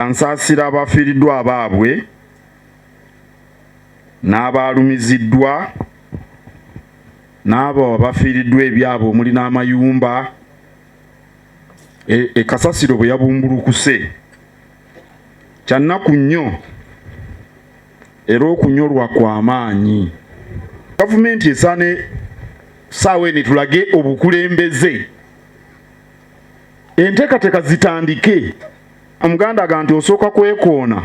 ansaasira abafiiriddwa abaabwe n'abaalumiziddwa n'abo abafiiriddwa ebyabwe omuli n'amayumba ekasasiro e bwe yabumbulukuse kyannaku nnyo era okunyolwa kw'amaanyi gavumenti esaane saawa eno tulage obukulembeze enteekateeka zitandike omuganda aga nti osooka kwekoona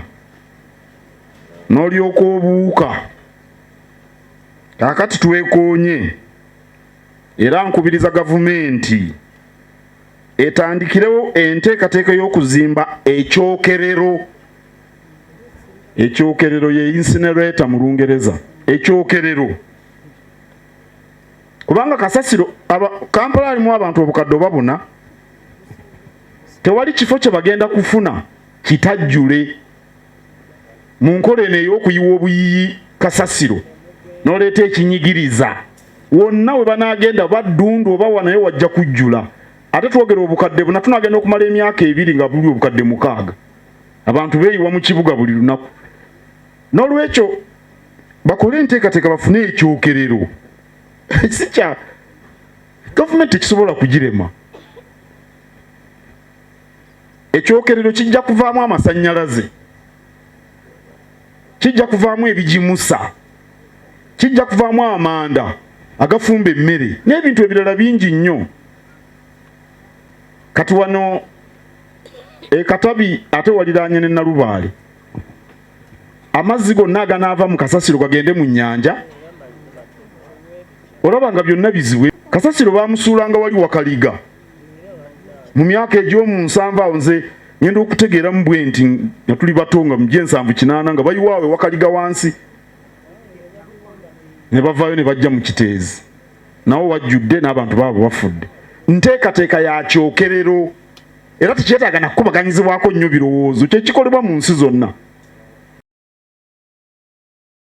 n'olyoka obuuka kakati twekoonye era nkubiriza gavumenti etandikirewo enteekateeka y'okuzimba ekyokerero ekyokerero ye insinerator mu lungereza ekyokerero kubanga kasasiro kampala alimu abantu obukadde oba buna tewali kifo kye bagenda kufuna kitajjule mu nkola eno ey'okuyiwa obuyiyi kasasiro n'oleeta ekinyigiriza wonna we banaagenda baddundu oba wanaye wajja kujjula ate twogera obukadde buna tunagenda okumala emyaka ebiri nga buli obukadde mukaaga abantu beeyiwa mu kibuga buli lunaku n'olwekyo bakole enteekateeka bafune ekyokerero sikya gavumenti ekisobola kugirema ekyokerero kijja kuvaamu amasannyalaze kijja kuvaamu ebigimusa kijja kuvaamu amanda agafumba emmere n'ebintu ebirala bingi nnyo kati wano ekatabi ate waliraanye ne nalubaale amazzi gonna aganaava mu kasasiro gagende mu nnyanja olaba nga byonna biziwe kasasiro baamusuulanga wali wakaliga mu myaka egy'omu nsanvu awo nze ngenda okutegeeramu bwe nti nga tuli bato nga mugye ensanvu kinaana nga bayiwaawe wakaliga wansi ne bavaayo ne bajja mu kiteezi nawo wajjudde n'abantu baabo bafudde nteekateeka ya kyokerero era tekyetaaga nakukubaganyizibwako nnyo birowoozo kyekikolebwa mu nsi zonna